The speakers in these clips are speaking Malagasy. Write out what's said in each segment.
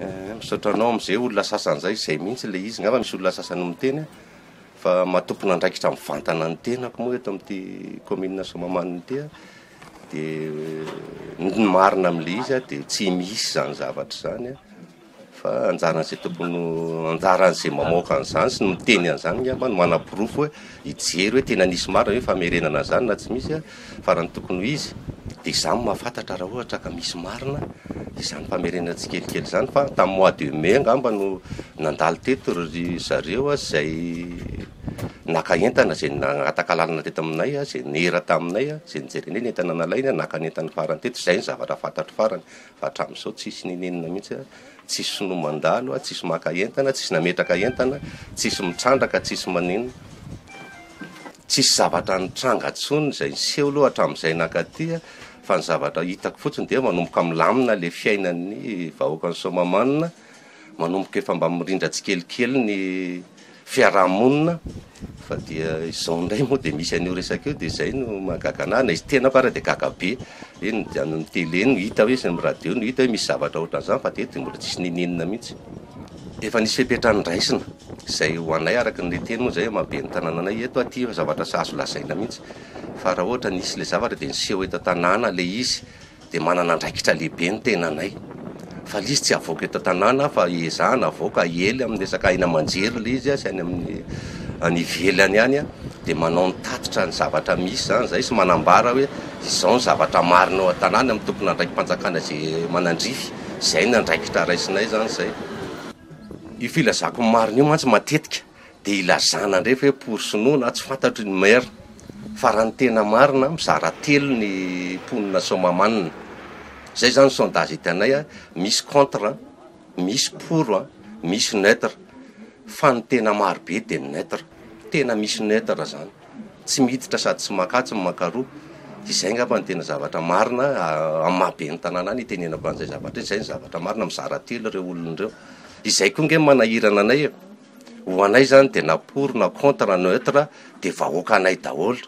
Eeh misaotra anao amin'izay olona sasany izay, izay mihitsy ilay izy, angamba misy olona sasany miteny fa maha tompon'andraikitra mivantana ny tenako moa eto amin'ity kaominina Soamahamanina ity aho dia ny marina amin'ilay izy dia tsy misy izany zavatra izany a. Fa anjaran'izay tokony anjaran'izay mamoaka an'izany sy ny miteny an'izany angamba no manaporofo hoe hijery hoe tena nisy marina ve famerenana an'izany na tsy misy fa raha ny tokony ho izy dia izaho no mahafantatra raha ohatra ka misy marina izany famerenana tsikelikely izany fa tamin'ny mois de mai angamba no nandalo teto ry zareo izay naka entana izay nangataka lalana teto aminay izay nera taminay izay nijerena eny ny entana nalainy naka ny entany farany teto izay ny zavatra fantatro farany fa hatramin'izao tsisy nenenina mihitsy, tsisy sinoa mandalo, tsisy maka entana, tsisy nametraka entana, tsisy mitrandraka, tsisy manino, tsisy zavatra nitranga intsony izay niseho aloha hatramin'izay nankaty fa ny zavatra hitako fotsiny dia manomboka milamina ilay fiainan'ny vahoakan'i Soamahamanina, Manomboka efa mba mirindra tsikelikely ny fiaraha-monina fa dia izao indray moa dia misy an'io resaka io dia izay no mahagaga anah, na izy tenako ary dia gaga be, hoe ny any amin'ny tele no hita hoe sy ny radio no hita hoe misy zavatra ohatran'izany fa dia eto dia mbola tsisy ninianina mihitsy. Efa nisy fepetra noraisina, izay ho anay araka ny niteny moa izay maha ben'ny tanàna anay eto aty zavatra tsy azo lazaina mihitsy fa raha ohatra nisy ilay zavatra dia niseho eto an-tanàna ilay izy, dia manana andraikitra lehibe ny tenanay fa le izy tsy avoaka eto an-tanàna fa ezahina avoaka aely amin'ny resaka aina aman-jery le izy sy any amin'ny any ivelany any an, dia manao ny tatitra ny zavatra misy izany izay sy manambara hoe izao ny zavatra marina eo an-tanàna amin'ny tompon'andraiki-panjakana izay manandrify, izay ny andraikitra raisinay izany izay. Io filazako ny marina io mantsy matetika Dia ilazana indray ve pour sinoa na tsy fantatry ny maire fa raha ny tena marina mizara telo ny mponina soamahamanina izay izany ny sondage hitanay a, misy contre a, misy pour a, misy neutre fa ny tena marobe dia ny neutre, tena misy neutre izany. Tsy miditra sady tsy maka tsy maka roa. Izay angamba no tena zavatra marina amin'ny maha ben'ny tanàna ahy no itenenako an'izay zavatra izay. Izay no zavatra marina, mizara telo ireo olona ireo. Izay koa ange no manahirana anay e. Ho anay izany dia na pour na contre na neutre dia vahoakanay daholo.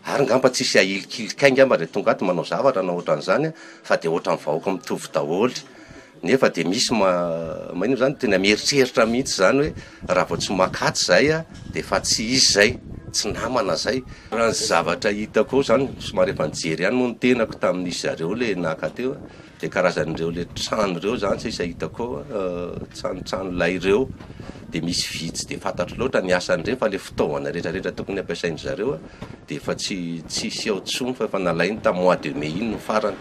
Ary angamba tsy hisy ahilikilikanay angamba izay tonga ato manao zavatra na ohatran'izany fa dia ohatran'ny vahoaka mitovy daholo. Nefa dia misy maninona izany, tena mieritreritra mihitsy izany hoe raha vao tsy maka atsy izay dia efa tsy izy izay, tsy namana izay. Raha ny zavatra hitako ao izany, somary efa nijery ihany moa ny tenako tamin'izy zareo ilay naka teo, dia karazan'ireo ilay trano ireo izany sisa hitako ao, tranotrano lay ireo, dia misy vy tsy dia fantatro loatra ny asan'ireny fa ilay fitaovana rehetrarehetra tokony hampiasain'ny zareo dia efa tsy tsisy ao intsony fa efa nalainy tamin'ny mois de mai iny no farany.